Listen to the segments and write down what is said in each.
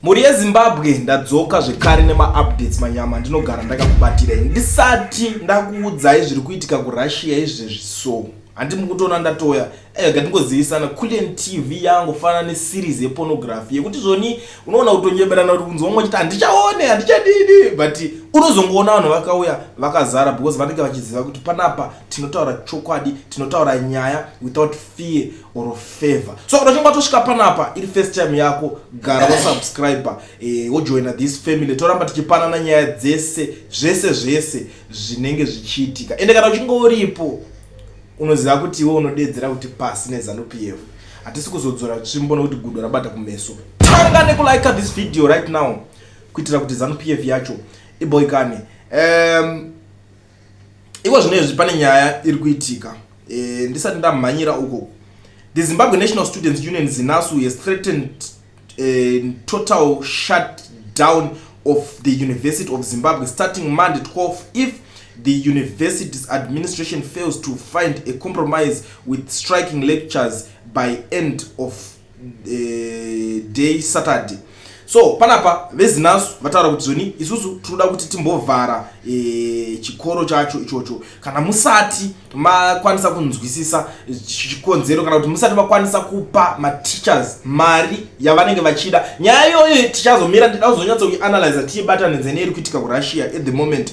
Mhuri yeZimbabwe ndadzoka zvekare nemaupdates manyama ndinogara ndakakubatirai ndisati ndakuudzai zviri kuitika kuRussia izvezvi so handi mukutoona ndatoya ega eh, ndingozivisana kulen tv yangu fana neseries yepornography yekuti zvoni unoona kutonyeberana kuti kunzi vamwe vachiti handichaone handichadidi but unozongoona vanhu vakauya vakazara because vanenge vachiziva kuti panapa tinotaura chokwadi tinotaura nyaya without fear or favor so kana uchinge watosvika panapa iri first time yako gara wasubscriber eh, wojoina this family toramba tichipanana nyaya dzese zvese zvese zvinenge zvichiitika ende kana uchinge uripo unoziva kuti iwe unodedzera kuti pasi nezanup yevo hatisi kuzodzora tsvimbo nokuti gudo rabata kumeso tanga nekulike this video right now kuitira kuti zanupf yacho iboikane um, iko zvino izvi pane nyaya iri kuitika e, ndisati ndamhanyira uko the zimbabwe national students union zinasu has threatened e, total shut down of the university of zimbabwe starting monday 12 if the university's administration fails to find a compromise with striking lectures by end of eh, day saturday so panapa vezinasu vataura kuti zoni isusu tinoda kuti timbovhara e, chikoro chacho ichocho kana musati makwanisa kunzwisisa chikonzero kana kuti musati makwanisa kupa mateachers mari yavanenge vachida nyaya iyoyo tichazomira ndida kuzonyatsa kuianalyza tiibatanidze neiri kuitika kurussia at the moment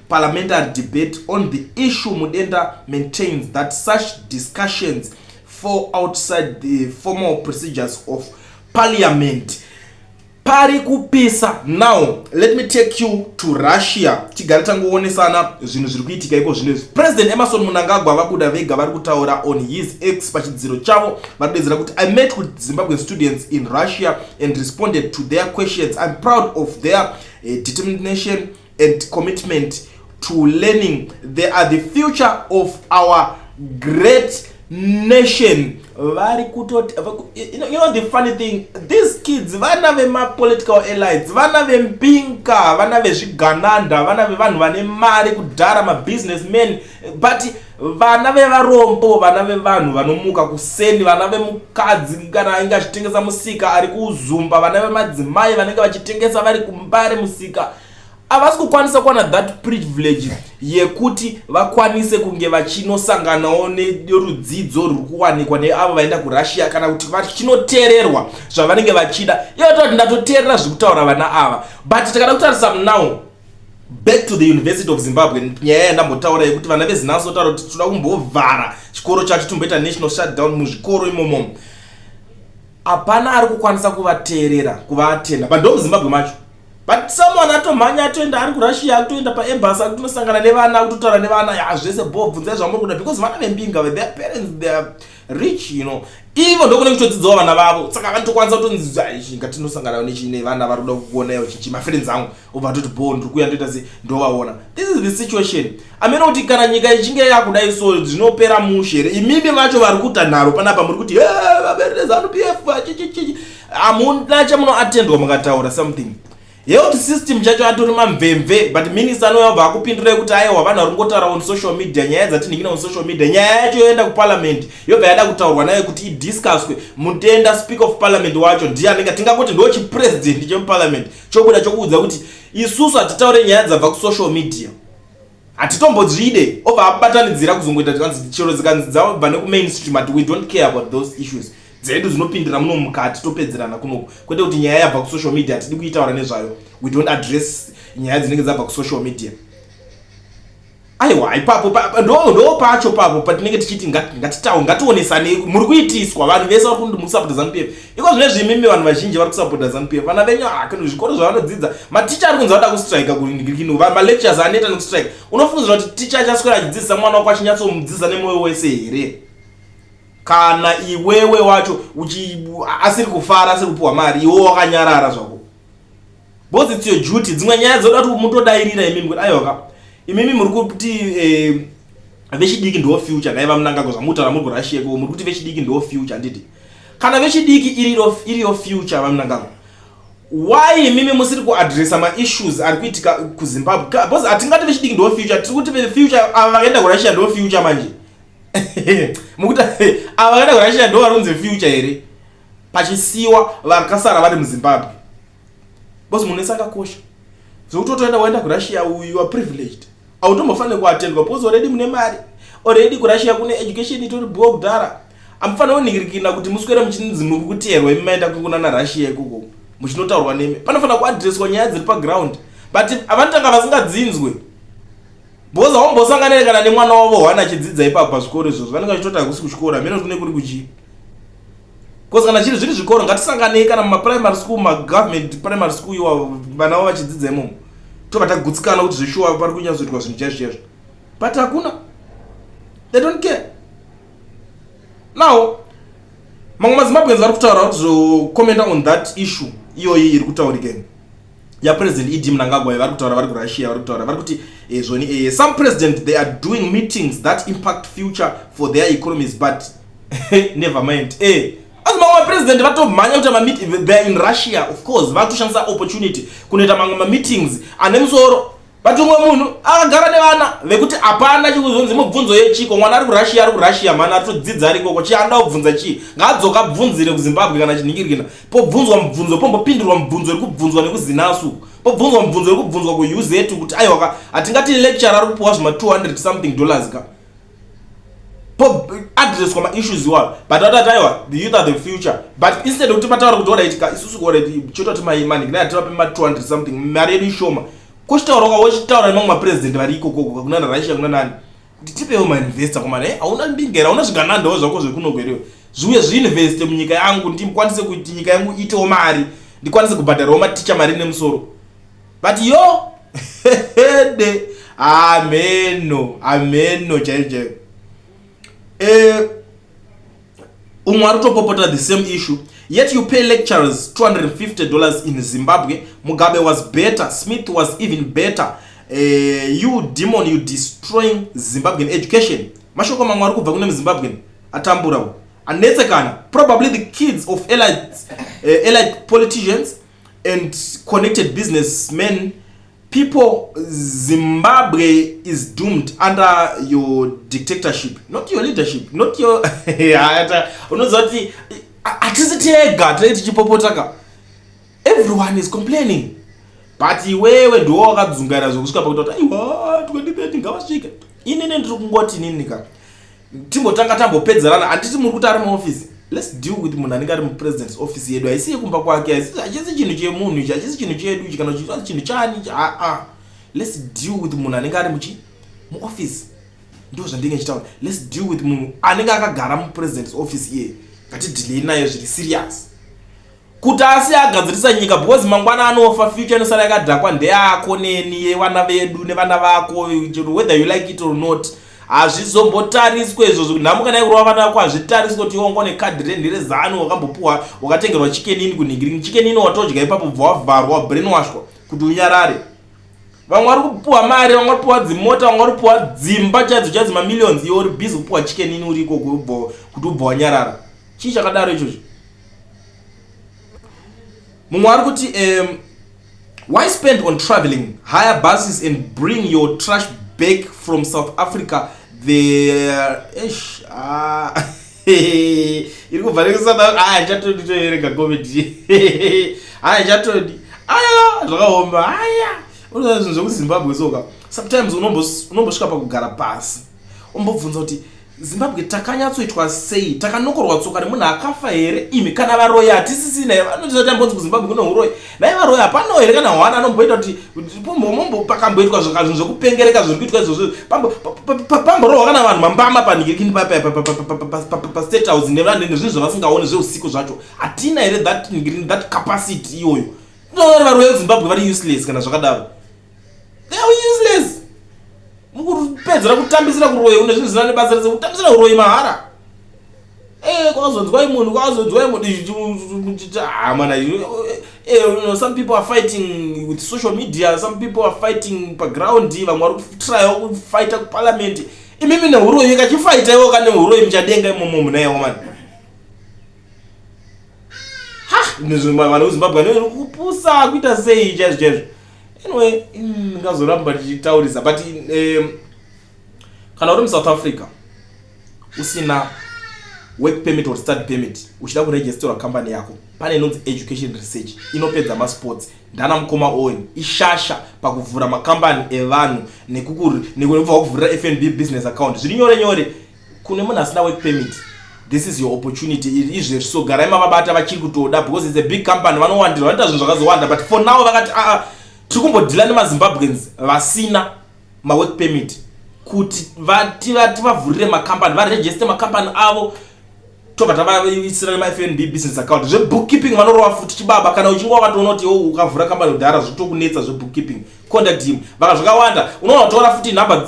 parliamentary debate on the issue Mudenda maintains that such discussions fall outside the formal procedures of parliament pari kupisa now let me take you to russia tigare tangoonesana zvinhu zviri kuitika iko zvino izvi president emerson munangagwa vabuda vega vari kutaura on his x pachidziro chavo vanodedzera kuti i met with zimbabwean students in russia and responded to their questions i'm proud of their uh, determination and commitment to learning they are the future of our great nation vari kutoti you know the funny thing these kids vana vemapolitical elites vana vempinka vana vezvigananda vana vevanhu vane mari kudhara mabusiness man but vana vevarombo vana vevanhu vanomuka kuseni vana vemukadzi kana ainge achitengesa musika ari kuzumba vana vemadzimai vanenge vachitengesa vari kumbare musika havasi kukwanisa kuwana that privilege yekuti vakwanise kunge vachinosanganawo nerudzidzo ruri kuwanikwa neavo vaenda kurussia kana kuti vachinoteererwa zvavanenge vachida iyo toti ndatoteerera zviri kutaura vana ava but tikada kutarisa munow back to the university of zimbabwe nyaya yandambotaura yekuti vana vezinasi votaura kuti tinoda kumbovhara chikoro chacho tomboita national shutdown muzvikoro imomo hapana ari kukwanisa kuvateerera kuvatenda but ndo muzimbabwe macho but someone atomhanya atoenda ari kurussia akutoenda paembasy ari kutonosangana nevana akutotaura nevana ya zvese bo bvunzai zvamuri kuda because vana vembinga their parents their rich you know ivo ndokune kutodzidzawo vana vavo saka vanotokwanisa kutonzizva ichi ngatinosangana nevana vari kuda kukuona yo chichi mafriends angu obva atoti bho ndiri kuya ndoita sei ndovaona this is the situation amene kuti kana nyika ichinge yakudai so zvinopera mushe here imimi vacho vari kuta nharo panapa muri kuti vaberezanu p f chichichichi hamuna chamunoatendwa mukataura something health system chacho atori mamvemve but minister anouya obva akupindurai kuti aiwa vanhu vari kungotaura on social media nyaya dzatinhingina on social media nyaya yacho yoenda kuparliament yobva yada kutaurwa nayo kuti idiscuswe mutenda speaker of parliament wacho ndiye anenge tingangoti ndo chipresident chemuparliament chobuda chokuudza kuti isusu hatitaure nyaya dzabva kusocial media hatitombodzvide obva abatanidzira kuzongoita tikanzi chero dzikanzi dzabva nekumainstream ati we don't care about those issues dzedu dzinopindira muno mukati topedzerana kunoku kwete kuti nyaya yabva kusocial media hatidi kuitaura nezvayo we don't address nyaya dzinenge dzabva kusocial media aiwa ipapo ndo pacho papo patinenge tichiti ngatitawo ngationesanei muri kuitiswa vanhu vese vari kumusapota zanupf iko zvine zvimimi vanhu vazhinji vari kusapota zanupf vana venyu hakn zvikoro zvavanodzidza maticha ari kunzi vada kustrike kuino malectures aneta nekustrike unofungidzira kuti ticha achaswera achidzidzisa mwana wako achinyatsomudzidzisa nemwoyo wese here kana iwewe wacho asiri kufara asiri kupiwa mari iwe wakanyarara zvako Boss it's your duty. Dzimwe nyaya dzoda kuti mutodairira imimi kuti ayoka. Imimi muri kuti eh vechidiki ndo future dai vamunangagwa zvamutaura muri kurashiye ko muri kuti vechidiki ndo future handiti kana vechidiki iriyo iriyo future vamunangagwa why mimi musiri kuadressa maissues ari kuitika kuzimbabwe because hatingati vechidiki ndo future tiri kuti future ava vakaenda kurashiya ndo future manje mukuti ava vakaenda kurashiya ndo varunzi future here pachisiwa vakasara vari muzimbabwe bcause munhu wese akakosha zvekuti otoenda waenda kurussia uyu are privileged autombofanire kuatendwa bcause already mune mari already kurussia kune education itori bhuwa kudhara amufanire kuningirikina kuti muswere muchinzi muri kuteerwa imi maenda kukuna narussia ikoko muchinotaurwa nemi panofanira kuadresswa nyaya dziri paground but vanotanga vasingadzinzwe bcause haumbosanganire kana nemwana wavo hwana achidzidza ipapo pazvikoro izvozvo vanenge vachitoti hakusi kuchikora hameno kuti kune kuri kuchii Because kana chiri zviri zvikoro ngatisanganei kana muma primary school ma government primary school iwa vana vavo vachidzidza imomo tobva tagutsikana kuti zveshuwa pari kunyatsoitwa zvinhu chaizvo chaizvo but hakuna they don't care now mamwe mazimbabweans vari kutaura vari kuzocommenta on that issue iyoyi iri kutaurika imi ya president ed mnangagwa vari kutaura vari kurussia vari kutaura vari kuti eh, zvoni eh, some president they are doing meetings that impact future for their economies but never mind eh, asi mamwe mapresident vatomhanya kuita mameeting theyare in russia of course vari kutoshandisa opportunity kunoita mamwe mameetings ane musoro but umwe munhu akagara nevana vekuti hapana chikuzonzi mubvunzo yechiko mwana ari kurussia ari kurussia mani ari todzidza ari ikoko chii anoda kubvunza chii ngaadzoka abvunzire kuzimbabwe kana chinhingirikina pobvunzwa mubvunzo pombopindurwa mubvunzo iri kubvunzwa nekuzinasu pobvunzwa mubvunzo iri kubvunzwa kuuz kuti aiwaka hatingati lecture ari kupiwa zvima 200 something dollars ka addresswa maissues iwayo but vatati aiwa the youth are the future but instead yekuti mataura kuti orit ka isusu orit chototi maimanik nai ativape ma 200 something mari yedu ishoma kochitaura ka wochitaura nemamwe mapresident vari ikokoko kunana russia kuna nani kuti tipewo mainvesta komana eh, hauna mbinga here hauna zviganandawo zvako zvekunogwerewe zviuye zviinveste munyika yangu ndikwanise kuti nyika yangu itewo mari ndikwanise kubhadharawo maticha mari nemusoro but yo hede ameno ameno chaiyo chaiyo eh, umwe ari kutopopota the same issue yet you pay lecturers 250 dollars in zimbabwe mugabe was better smith was even better eh, you demon you destroying zimbabwean education mashoko mamwe ari kubva kune muzimbabwean atambura u anetsekana probably the kids of elite, uh, elite politicians and connected business men people zimbabwe is doomed under your dictatorship not your leadership not your unoziva kuti hatisi tega tinenge tichipopotaka everyone is complaining but iwewe ndiwo wakadzungaira zvekusvika pakuita kuti aiwa 2030 ngavasvike inini ndiri kungoti ninika timbotanga tambopedzerana handiti muri kuti ari muoffice let's deal with munhu anenge ari mupresident's office yedu haisi yekumba kwake hachisi chinhu chemunhu ichi hachisi chinhu chedu ichi kana chiaa chinhu chani ichi aa let's deal with munhu anenge ari muchi muoffice ndo zvandinge chitaura let's deal with munhu anenge akagara mupresident's office iye ngatidhilei naye zviri serious kuti asi agadzirisa nyika because mangwana anofa future inosara yakadhakwa ndeyako neni yevana vedu nevana vako whether you like it or not hazvizombotariswe izvozvo nhamo kana ikurova vana vako hazvitariswe kuti iwongo nekadhi rendi rezanu wakambopuwa wakatengerwa chikenini kunhingirini chikenini watodya ipapo bva wavharwa wabrainwashwa kuti unyarare vamwe vari kupuwa mari vamwe vari kupuwa dzimota vamwe vari kupuwa dzimba chaidzo chaidzo mamillions iwe uri busy kupuwa chikenini uri ikoko kuti ubva wanyarara chii chakadaro ichocho mumwe ari kuti um, why spend on traveling higher buses and bring your trash back from south africa there esh ah. iri kubva nekusada aya chatodi toerega comedy aya chatodi aya zvakaoma aya unoa zvinhu zvekuzimbabwe soka sometimes unombosvika pakugara pasi umbobvunza kuti Zimbabwe takanyatsoitwa sei takanokorwa tsoka nemunhu akafa here imi kana varoyi hatisisina here vanotiza kuti ambonzi kuzimbabwe kune uroyi nai varoyi hapanawo here kana hwana anomboita kuti mombo pakamboitwa zvakazvinhu zvekupengereka zviri kuitwa izvozvo pamborohwa kana vanhu mambama panhikirikini pastate house nevanhu nezvinhu zvavasingaone zveusiku zvacho hatina here that that capacity iyoyo tinoona varoyi vezimbabwe vari useless kana zvakadaro they are useless mukupedzera kutambisira kuroyi une zvinhu zvisina nebasa rese kutambisira kuroyi mahara eh, kwakazonzwai munhu kwakazonzwai munhuhamana ah, eh, eh, some people are fighting with social media some people are fighting paground vamwe vari kutraya kufaita kuparliament imimi neuroyi kachifaita iwo ka neuroyi muchadenga imomo munayewo mani ha vanhu vezimbabwe anokupusa kuita sei chaizvo chaizvo anyway ndingazoramba ndichitaurisa but um, kana uri musouth africa usina work permit or study permit uchida kuregisterwa company yako pane inonzi education research inopedza masports ndana mukoma owen ishasha pakuvhura makambani evanhu nekukubva wakuvhurira fnb business account zviri nyore nyore kune munhu asina work permit this is your opportunity iri izvezvi so garai mavabata vachiri kutoda because its a big company vanowandirwa vanoita zvinhu zvakazowanda but for now vakati aa ah, ah, tiri kumbodhila nemazimbabweans vasina mawork permit kuti vati vati vavhurire macompany varegiste macompany avo tobva tavaisira nemafnb business account zvebookkeeping vanorova futi chibaba kana uchinge wakatoona kuti iwo ukavhura kambani kudhara zvitokunetsa zvebookkeeping contact him vaka zvakawanda unoona kutora futi number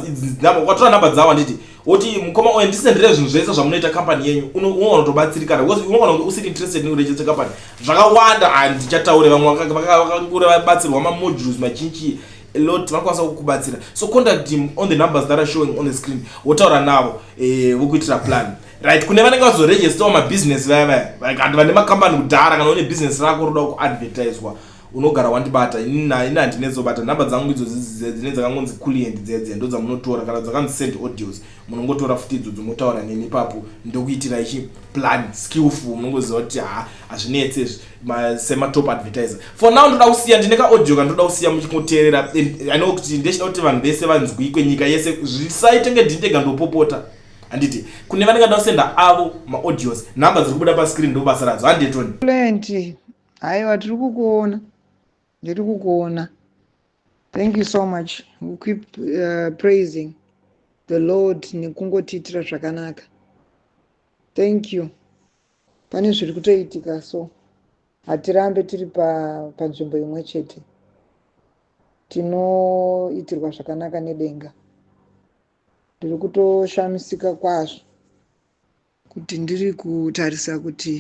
ukatora number dzavo handiti woti mukoma oyo ndisendere zvinhu zvese zvamunoita kambani yenyu unoona kutobatsirika because unoona kunge usiri interested nekurejesta kambani zvakawanda handichataure ah, vamwe vakakure vabatsirwa mamodules machinchi a lot vanokwanisa kukubatsira so contact him on the numbers that are showing on the screen wotaura navo eh, vokuitira plan right kune vanenge vazoregistawo mabusiness vaya vaya like anti vane makambani kudhara kana une business rako roda kuadvertiswa unogara wandibata ini handinezobata nhamba dzangu idzo dzine dzakangonzi culient dzedze ndo dzamunotora kana dzakanzi send audios munongotora futi idzo dzomotaura neni ipapo ndokuitira ichi plan skillful munongoziva kuti ha hazvinetse izvi sematop advertiser for now ndoda kusiya ndine kaaudio kandoda kusiya muchingoteerera i know kuti ndechida kuti vanhu vese vanzwikwe nyika yese zvisaitenge ndindega ndopopota handiti kune vanenge nda kusenda avo maaudios number dziri kubuda pascreen ndobasa radzo handie tony plenty haiwa tiri kukuona ndiri kukuona thank you so much we keep uh, praising the lord nekungotiitira zvakanaka thank you pane zviri kutoitika so hatirambe tiri panzvimbo pa imwe chete tinoitirwa zvakanaka nedenga Ndiri kutoshamisika kwazvo kuti ndiri kutarisa kuti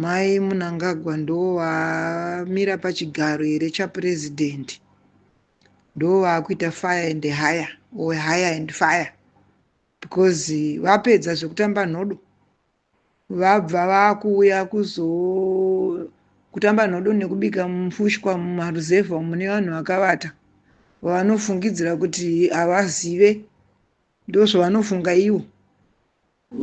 mai Munangagwa ndovamira pachigaro here chapresident ndovakuita fire and hire or hire and fire because vapedza zvekutamba nhodo Vabva vakuuya kuzo kutamba nhodo nekubika mfushwa mumaruzevha umu nevanhu vakavata vavanofungidzira kuti havazive ndozvavanofunga ivo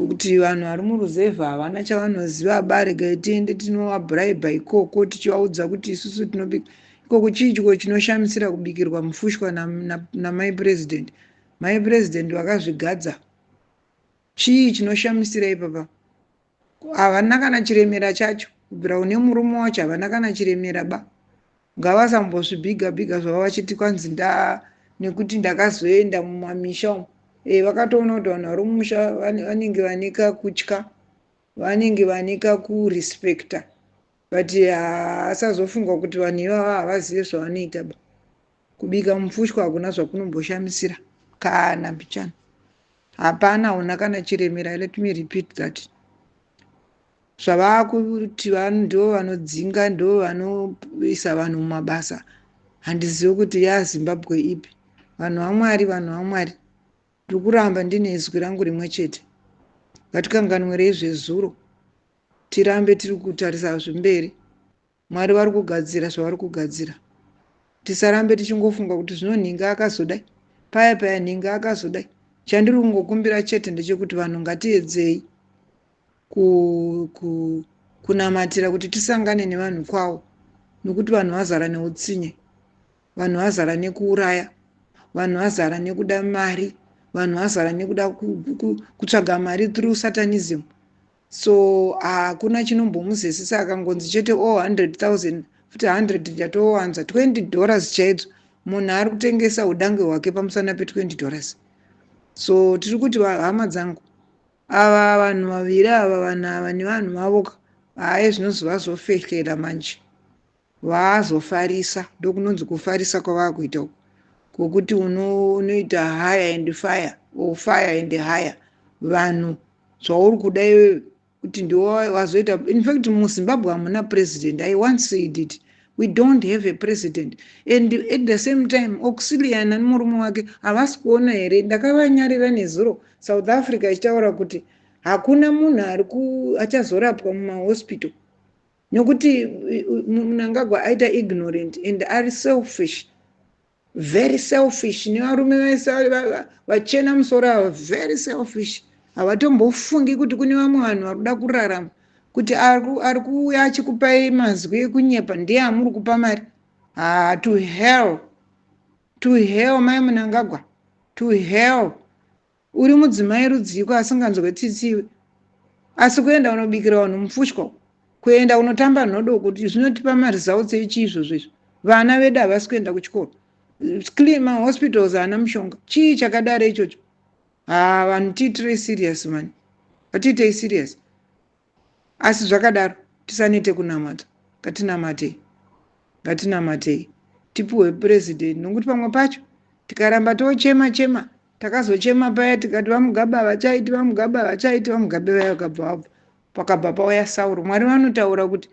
kuti vanhu vari muruzevha havana chavanoziva aba regai tiende tinovabraiba ikoko tichivaudza kuti isusu tinobika ikoko chii chiko chinoshamisira kubikirwa mufushwa namai na, na president mai president vakazvigadza Chii chinoshamisira ipapa? Havana kana chiremera chacho. Kubvira une murume wacho havana kana chiremera ba. Ngavasambozvibhiga bhiga zvavo vachiti kwanzi nda nekuti ndakazoenda mumamisha umu. Eh vakatoona kuti vanhu vari mumusha vanenge vane kakutya. Vanenge vane kakurespecta. but ah, asazofunga kuti vanhu ivava havazive zvavanoita ba kubika mupfushwa hakuna zvakunomboshamisira kana mbichana hapana una kana chiremera let me repeat that zvavakuti ndo vanodzinga ndo vanoisa vanhu mumabasa handizivi kuti yazimbabwe ipi vanhu vamwari vanhu vamwari ndikuramba ndine izwi rangu rimwe chete ngatikanganwirei zvezuro tirambe tiri kutarisa zvemberi mwari vari kugadzira zvavari kugadzira tisarambe tichingofunga kuti zvino nhinga akazodai paya paya nhinga akazodai chandiri kungokumbira chete ndechekuti vanhu ngatiedzei ku, ku, kunamatira kuti tisangane nevanhu kwawo nokuti vanhu vazara neutsinye vanhu vazara nekuuraya vanhu vazara nekuda mari vanhu vazara nekuda kutsvaga mari through satanism so hakuna chinombomuzesisa akangonzi chete o 100000 futi 100 ndatowanza 20 dollars chaidzo munhu ari kutengesa udange hwake pamusana pe 20 dollars so tiri kuti hama dzangu ava vanhu vaviri ava vanhu ava nevanhu vavoka haye zvinozovazofehlela manje vaazofarisa ndokunonzi kufarisa kwavakuita uku kwokuti unoita uno higher and fire or fire and higher vanhu zvauri kuda iwewe kuti ndiwo wazoita in fact muzimbabwe hamuna president i once said it we don't have a president and at the same time auxilian ani murume wake havasi kuona here ndakavanyarira nezuro south africa ichitaura kuti hakuna munhu ari achazorapwa mumahospital nokuti munangagwa aita ignorant and ari selfish very selfish nevarume vese vachena musoro ava very selfish havatombofungi kuti kune vamwe vanhu vari kuda kurarama kuti ari kuuya achikupai mazwi ekunyepa ndiye amuri kupa mari haa to hell to hell mai munangagwa to hell Uri mudzimai rudziiko asinganzwe tsitsi iwe. Asi kuenda unobikira vanhu mupfushwa uko. Kuenda unotamba nhodo uko zvinotipa maresults echii izvozvo izvo. Vana vedu havasi kuenda kuchikoro. Clean mahospitals haana mushonga. Chii chakadaro ichocho? Haa vanhu tiitirei serious mhani. Vatiitei serious. Asi zvakadaro, tisanete kunamata. Ngatinamatei. Ngatinamatei. Tipuhwe president nokuti pamwe pacho tikaramba tochema chema takazochema paya tikati vamugabe havachaiti vamugabe havachaiti vamugabe vaya vakabva vabva pakabva pauya sauro mwari vanotaura kuti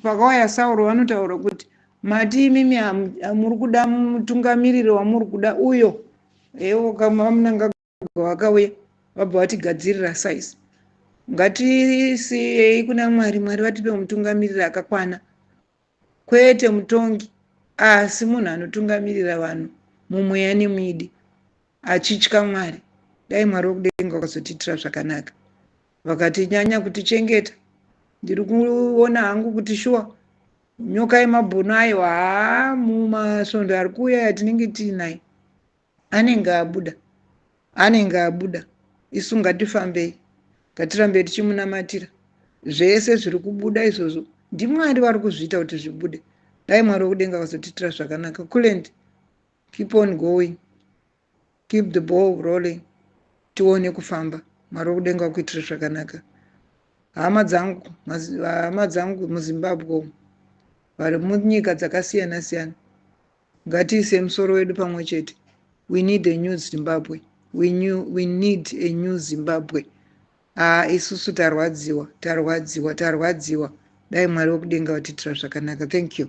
pakauya sauro vanotaura kuti mati imimi muri kuda mutungamiriri wamuri kuda uyo ewo kamunanga vabva vakauya vabva vatigadzirira size ngatisiyei kuna mwari mwari vatipe mutungamiriri akakwana kwete mutongi asi munhu anotungamirira vanhu mumweya nemwidi achitya mwari dai mwari wekudenga wakazotiitira zvakanaka vakatinyanya kutichengeta ndiri kuona hangu kuti shuwa nyoka yemabhunu ayo haa mumasvondo ari kuuya yatinenge tiinayo anenge abuda anenge abuda isu ngatifambei ngatirambe tichimunamatira zvese zviri kubuda izvozvo ndimwari vari kuzviita kuti zvibude dai mwari wekudenga vazotiitira zvakanaka kulend keep on going keep the ball rolling tione kufamba mwari wekudenga wakuitira zvakanaka hama dzangu hama dzangu muzimbabwe umu vari munyika dzakasiyana siyana Ngatiise musoro wedu pamwe chete. We need a new Zimbabwe. We, new, we need a new Zimbabwe. Haa isusu tarwadziwa, tarwadziwa, tarwadziwa. Dai Mwari wekudenga vatiitira zvakanaka. Thank you.